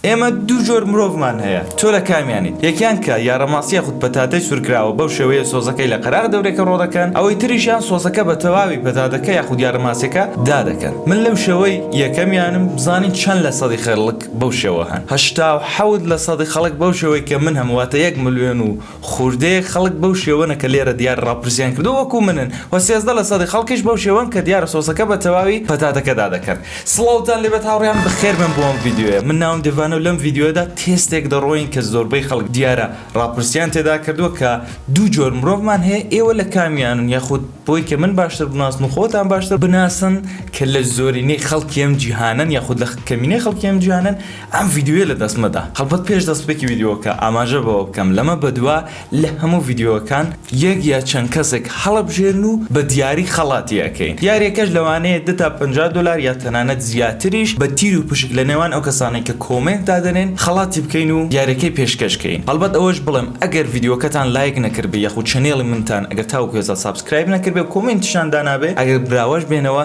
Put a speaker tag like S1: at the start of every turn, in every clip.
S1: ئێمە دوو جۆر مرۆڤمان هەیە تۆ لە کامیانیت یەکیان کە یارەماس یاخود پەتاتەی سورکراوە بەو شێوەیە سۆزەکەی لە قەراغ دەورێکە ڕۆدەکەن ئەوەی تریشیان سۆزەکە بە تەواوی پەتاتەکە یاخود یارەماسیەکە دادەکەن من لەو شێوەی یەکەمیانم بزانین چەند لە سەدی خەلک بەو شێوە هەن هەشتا و حەوت لە سەدی خەڵک بەو شێوەی کە من هەم واتە یەک ملیۆن و خوردەیەک خەڵک بەو شێوەنە کە لێرە دیارە ڕاپرسیان کردووە وەکو منن و سێزدە لە سەدی خەڵکیش بەو شێوەن کە دیارە سۆسەکە بە تەواوی پەتاتەکەدا دەکەن. سڵاوتان لێبێت هاوڕێیان بەخێربێن بۆ ئەم ڤیدیۆیە من ناوم دێڤانە و لەم ڤیدیۆیەدا تێستێک دەڕۆین کە زۆربەی خەڵک دیارە ڕاپرسیان تێدا کردووە کە دوو جۆر مرۆڤمان هەیە ئێوە لە کامیانن یاخود بۆی کە من باشتر بناسن و خۆتان باشتر بناسن کە لە زۆرینەی خەڵکی ئەم جیهانەن یاخود لە کەمینەی خەڵکی ئەم جیهانەن ئەم ڤیدیۆیە لە دەست مەدە. هەڵبەت پێش دەستپێکی ڤیدیۆکە ئاماژە بەوە بکەم لەمە بەدوا لە هەموو ڤیدیۆکان یەک یا چەند کەسێک هەڵەبژێرن و بە دیاری خەڵاتی ئەکەین یاریەکەش لەوانەیە دە تا پەنجا دۆلار یا تەنانەت زیاتریش بە تیر و پشک لە نێوان ئەو کەسانەی کە کۆمێنت دادەنێن خەڵاتی بکەین و یاریەکەی پێشکەش کەین هەڵبەت ئەوەش بڵێم ئەگەر ڤیدیۆکەتان لایک نەکردبێ یاخود چەنێڵی منتان ئەگەر تاوەکو ئێستا سابسکرایب نەکردبێ و کۆمێنتیشتان دانابێ ئەگەر براوەش بێنەوە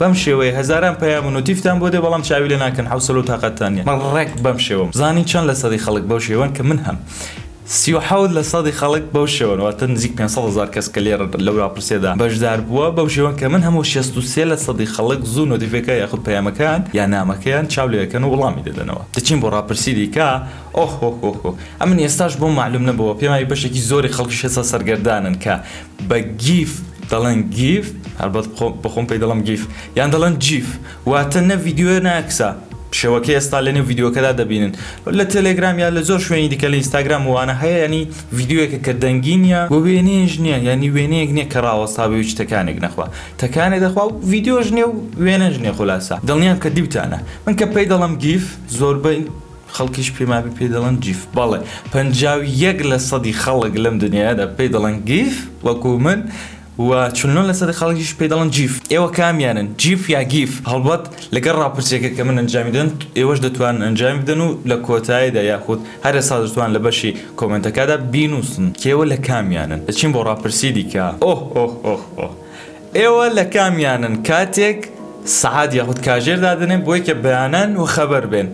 S1: بەم شێوەیە هەزاران پەیام و نوتیفتان بۆ دێ بەڵام چاوی لێ ناکەن حەوسەلە و تاقەتتان نیە من ڕێک بەم شێوەم زانی چەند لە سەدی خەڵک بەو شێوەن کە من هەم سی و حەوت لە سەدی خەڵک بەو شێوەن واتە نزیک پێنج سەد هەزار کەس کە لێرە لەو راپرسیەدا بەشدار بوە بەو شێوەن کە من هەم و شەست و سێ لە سەدی خەڵک زوو نوتیفێکە یاخود پەیامەکەیان یا نامەکەیان چاو لێ ئەکەن و وڵامی دەدەنەوە دەچین بۆ راپرسی دیکە ئۆهۆهۆهۆ ئەمن ئێستاش بۆم مەعلوم نەبۆوە پێماوی بەشێکی زۆری خەڵکیش هێستا سەرگەردانن کە بە گیف دەڵێن گیف هەربەت بەخۆم پێی دەڵم گیف یان دەڵێن جیف واتە نە ڤیددیوە ناکسا شێوەکە ئێستا لەنێو ڤیددیوەکەدا دەبینن لە تەلێگرام یا لە زۆر شوێنی دیکە لە ئینستاگرام وانە هەیە ینی ڤیددیوەکە کە دەنگی نیە و وێنێژ نییە یعنی وێنەیەک نییە کە ڕاوەستاابێ و تەکانێک نەخوا تەکانێ دەخوا و ڤیددیۆژ نیێ و وێنەژ نیە خلاصە دڵنیام کە دیوتانە من کە پێی دەڵم گیف زۆربەی خەڵکیش پێمابێ پێی دەڵێن جیف. بەڵێ پەنجا و یەک لە سەدی خەڵک لەم دنیایەدا پێی دەڵێن گیف وەکو من و چل و نۆ لە سەدی خەڵکیش پێی دەڵێن جیف. ئێوە کامیانن جیف یا گیف؟ هەڵبەت لەگەڵ ڕاپرسیەکە کە من ئەنجامی دەدەم ئێوەش دەتوانن ئەنجامی بدەن و لە کۆتایدا یاخود هەر ئێستا دەتوان لە بەشی کۆمێنتەکادا بینووسن کە ئێوە لە کامیانن. دەچین بۆ ڕاپرسی دیکە. ئۆه ئۆه ئۆه ئۆه ئێوە لە کامیانن کاتێک سەعات یاخود کاژێر دادەنێن بۆی کە بەیانان و خەبەر بێن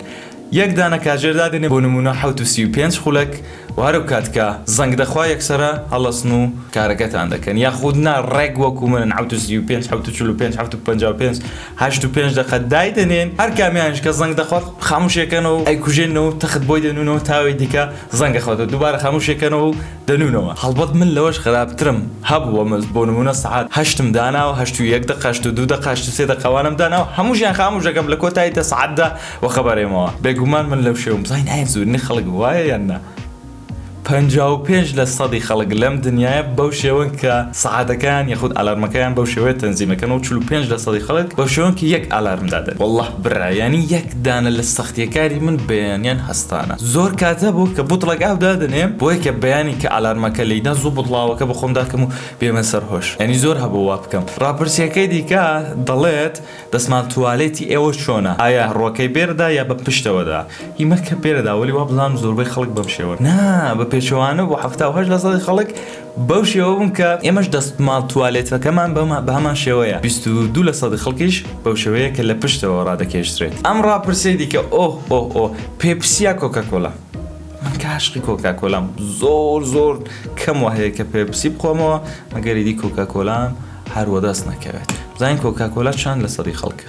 S1: یەک دانە کاژێر دادەنێن بۆ نموونە حەوت و سی و پێنج خولەک و هەرو کات کە زەنگ دەخوا یەکسەرە هەڵەسن و کارەکەتان دەکەن یاخود نا ڕێک وەکو منن حەوت و سی و پێنج حەوت و چل و پێنج حەوت و پەنجا و پێنج هەشت و پێنج دەقە دایدەنێن هەر کامیانیش کە زەنگ دەخوات خاموشی ئەکەنەوە و ئەیکوژێنەوە و تەخت بۆی دەنوونەوە تا ئەوی دیکە زەنگ ئەخواتەوە دووبارە خاموشی ئەکەنەوە و دەنوونەوە هەڵبەت من لەوەش خراپترم هەبووە مس بۆ نموونە سەعات هەشتم داناوە هەشت و یەک دەقە هەشت و دوو دەقە هەشت و سێ دەقە وانەم داناوە هەمووشیان خاموش دەکەم لە کۆتایی دە سەعاتدا وەخەبەرێمەوە بێگومان من لەو شێوەم زانی نایە زۆرینەی خەڵک وایە یان نا پەنجا و پێنج لە سەدی خەڵک لەم دنیایە بەو شێوەن کە سەعاتەکەیان یاخود ئالارمەکەیان بەو شێوەیە تەنزیم دەکەن و چل و پێنج لە سەدی خەڵک بەو شێوەن کە یەک ئالارم دادەنێن واللە برا یانی یەک دانە لە سەختیەکاری من بەیانیان هەستانە زۆر کاتە بۆ کە بوتڵەک ئاو دادەنێم بۆیە کە بەیانی کە ئالارمەکە لەیدا زوو بوتڵاوەکە بەخۆم داکەم و بێمە سەر هۆش یانی زۆر هەبوو وا بکەم راپرسیەکەی دیکە دەڵێت دەسمال توالێتی ئێوە چۆنە ئایا ڕوەکەی بێرەدا یا بە پشتەوەدا هی مەکە بێرەدا وەلی وابزانم زۆربەی خەڵک بەم شێوەن نا بە پێچەوانە بۆ حەفتا و هەشت لەسەدی خەڵک بەو شێوە بووم کە ئێمەش دەستماڵ توالێتەکەمان بە هەمان شێوەیە، بیست و دوو لە سەدی خەڵکیش بەو شێوەیە کە لە پشتەوە ڕادەکێشدرێت. ئەم ڕاپرسیەی دیکە، ئۆه ئۆه ئۆه، پێپسی یا کۆکاکۆلا؟ من کە عاشقی کۆکاکۆلام، زۆر زۆر کەم وا هەیە کە پێپسی بخۆمەوە، مەگەر ئیدی کۆکاکۆلام هەر وەدەست نەکەوێت. بزانین کۆکاکۆلا چەند لە سەدی خەڵکە؟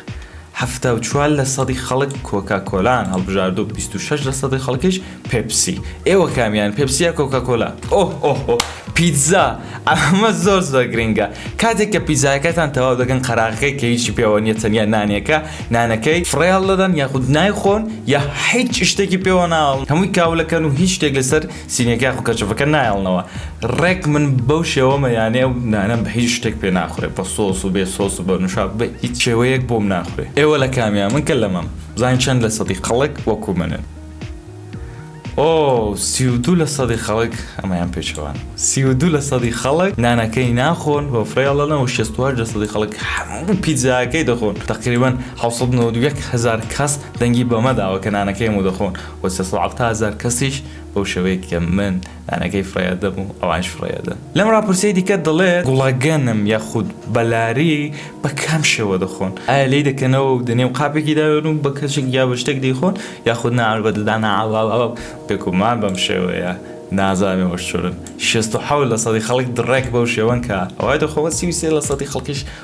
S1: حەفتا و چوار لە سەدی خەڵک کۆکا کۆلایان هەڵبژاردو بیست و شەش لە سەدی خەڵکیش پێپسی ئێوە کامیان پێپسی یا کۆکا کۆلا ئۆه ئۆه ئۆه پیتزا ئەمە زۆر زۆر گرینگە کاتێک کە پیتزایەکەتان تەواو دەکەن قەراغەکەی کە هیچی پێوە نیە تەنیا نانێکە نانەکەی فڕێ هەڵدەدەن یاخود نایخۆن یا هیچ شتێکی پێوە ناڵن هەمووی کاولەکەن و هیچ شتێک لەسەر سینەکە خو کەچەفەکە نایەڵنەوە ڕێک من بەو شێوەمە یانێ ئەو نانەم بە هیچ شتێک پێ ناخورێ بە سۆس و بێ سۆس و بە نوشابە بە هیچ شێوەیەک بۆم ناخورێ ئێوە لە کامیان من کە لەمەم بزانین چەند لە سەدی خەڵک وەکو منن ئۆ سی و دوو لە سەدی خەڵک ئەمەیان پێچەوان سی و دوو لە سەدی خەڵک نانەکەی ناخۆن بە فرێڵەنە و شێستوار لە سەدی خەڵک هەموو پیتزاکەی دەخۆن تقریبا حەوسەد نەوەد و یەک هەزار کەس دەنگی بەمە داوە کە نانەکەی هەموو دەخۆن و سێ سەد و حەفتا هەزار کەسیش بەو شێوەیەک کە من لانەکەی فرەیەدەم و ئەوانیش فرەیەدەن. لەم راپرسیەی دیکە دەڵێت، گوڵە گەنم یاخود بەلاری بە کام شێوە دەخۆن؟ ئایا لێی دەکەنەوە و دەنێو قاپێکی داوێن و بە کەشێک یا بە شتێک دەیخۆن یاخود نا بە ددان ئااااا بێگومان بەم شێوەیە نازانم ئەوەش چۆنە شەست و حەوت لە سەدی خەڵک دڕێک بەو شێوەن کە ئەوای دەخۆن و سی و سێ لە سەدی خەڵکیش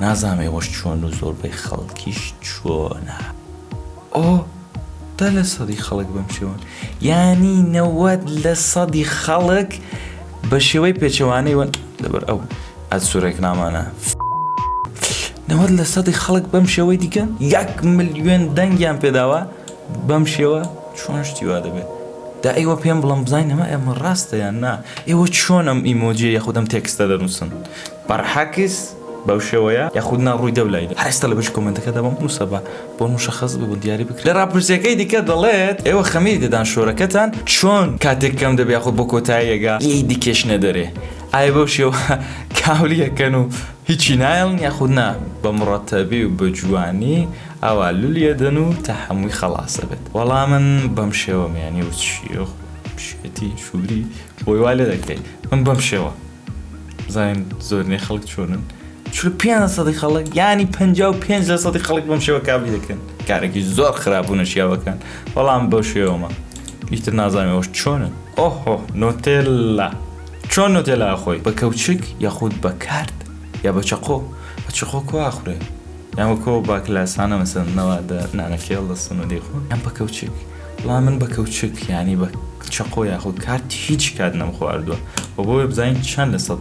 S1: نازام ئێوەش چۆن و زۆربەی خەڵکیش چۆنە. ئۆ دە لە سەدی خەڵک بەم شێوەن یانی نەوەد لە سەدی خەڵک بە شێوەی پێچەوانەی وەن لەبەر ئەو ئەسوورێک نامانە نەوەد لە سەدی خەڵک بەم شێوەی دیکە یەک ملیێن دەنگیان پێداوە بەم شێوە چۆن شتی وا دەبێت دا ئێوە پێم بڵم بزانین ئەمە ئەمە ڕاستەیان نا ئێوە چۆنم ئیمۆجیە یاخودم تێکستە دەنووسن بەرحەکس بەو شێوەیە یاخود نا ڕووی دە و لای دە. هەر ئێستا لە بەشی کۆمێنتەکەدا بۆم بنووسە با بۆن مشخص ببن دیاری بکرێن. لە ڕاپرسیەکەی دیکە دەڵێت، ئێوە خەمیری دەدان شۆرەکەتان چۆن کاتێک کەم دەبێ یاخود بۆ کۆتاییەگا لێی دکێشنە دەرێ؟ ئایا بەو شێوە کاولی ئەکەن و هیچی نایەڵن یاخود نا بە مڕەتەبی و بە جوانی ئاوا لولی ئەدەن و تا هەمووی خەڵاس ئەبێت؟ وەڵا من بەم شێوەم یانی وچ یۆخ پشکەتی شوری بۆی وا لێ دەکەی من بەم شێوە. زانین زۆرنەی خەڵک چۆنن چل پێنج سەدی خەڵک ینی پ پێنج لە سەدی خەڵک بەم شێوە کابلی دەکەن کارێکی زۆر خراپ و نەشیاوەکان بەڵام بەو شێوەمە ئیتر نازانەوەش چۆنن ئۆهۆ نۆتێلا چۆن نۆتێلا خۆی بە کەوچک یاخود بە کارت یا بە چەقۆ بە چخۆ کواخورێ یان وەکۆ باکلاسانە مەسەنەوە دە نانەکێڵ دەستن و دەیخۆن ئەم بە کەوچک وەڵا من بە کەوچک یانی بە چەقۆ یاخود کارت هیچ کات نەم خواردووە و بۆ بزانین چەند لە سەد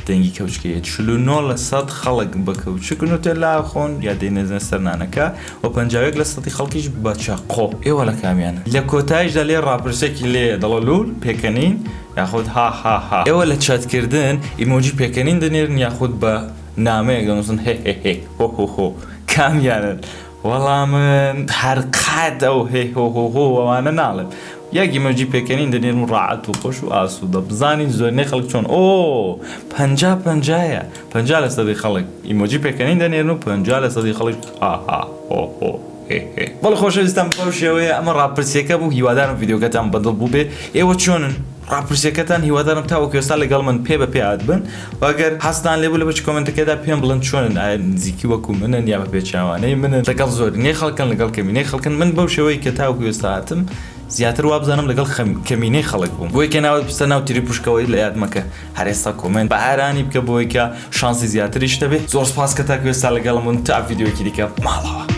S1: دەنگی کەوچکەیە چل و نۆ لە سەد خەڵک بە کەوچک نوتێ لا خۆن یا دەینێزنە سەرنانەکە و پەنجاوێک لە سەدی خەڵکیش بە چەقۆ ئێوە لە کامیانن لە کۆتایشدا لێ ڕاپرسێکی لێ دەڵە لول پێکەنین یاخود ها ها ها ئێوە لە چاتکردن ئیمۆجی پێکەنین دەنێرن یاخود بە نامەیەک دەنووسن هێ هێ هێ هۆ هۆ هۆ کامیانن وەڵا من هەر قەت ئەو هێ هۆ هۆ هۆ وانە ناڵێم یەک ئیمۆجی پێکەنین دەنێرم ڕاعەت و خۆش و ئاسوودە بزانین زۆرینەی خەڵک چۆن ئۆ پەنجا پەنجایە پەنجا لە سەدی خەڵک ئیمۆجی پێکەنین دەنێرن و پەنجا لە سەدی خەڵک ها ها هۆ هۆ هێ هێ بەڵێ خۆشەویستان بەو شێوەیە ئەمە ڕاپرسییەکە بوو هیوادارم ڤیدیۆکەتان بەدڵ بووبێ ئێوە چۆنن؟ ڕاپرسیەکەتان هیوادارم تاوەکو ئێستا لەگەڵ من پێ بە پێ ئادبن و ئەگەر حەزتان لێبوو لە بەش کۆمێنتەکەدا پێم بڵێن چۆنن ئایا نزیکی وەکو منن یا بە پێچەوانەی منن لەگەڵ زۆرینەی خەڵکن لەگەڵ کەمینەی خەڵکن من بەو شێوەی کە تاوەکو ئێستا هاتم زیاتر وابزانم لەگەڵ کەمینەی خەڵک بووم بۆیکە ناوت بستە ناو تری پشکەوەی لە یاد مەکە هەر ئێستا کۆمێنت بە ئارانی بکە بۆیکە شانسی زیاتریش دەبێ زۆر سپاس کە تاکو ئێستا لەگەڵم بوون تا ڤیدیۆکی دیکە ماڵەوە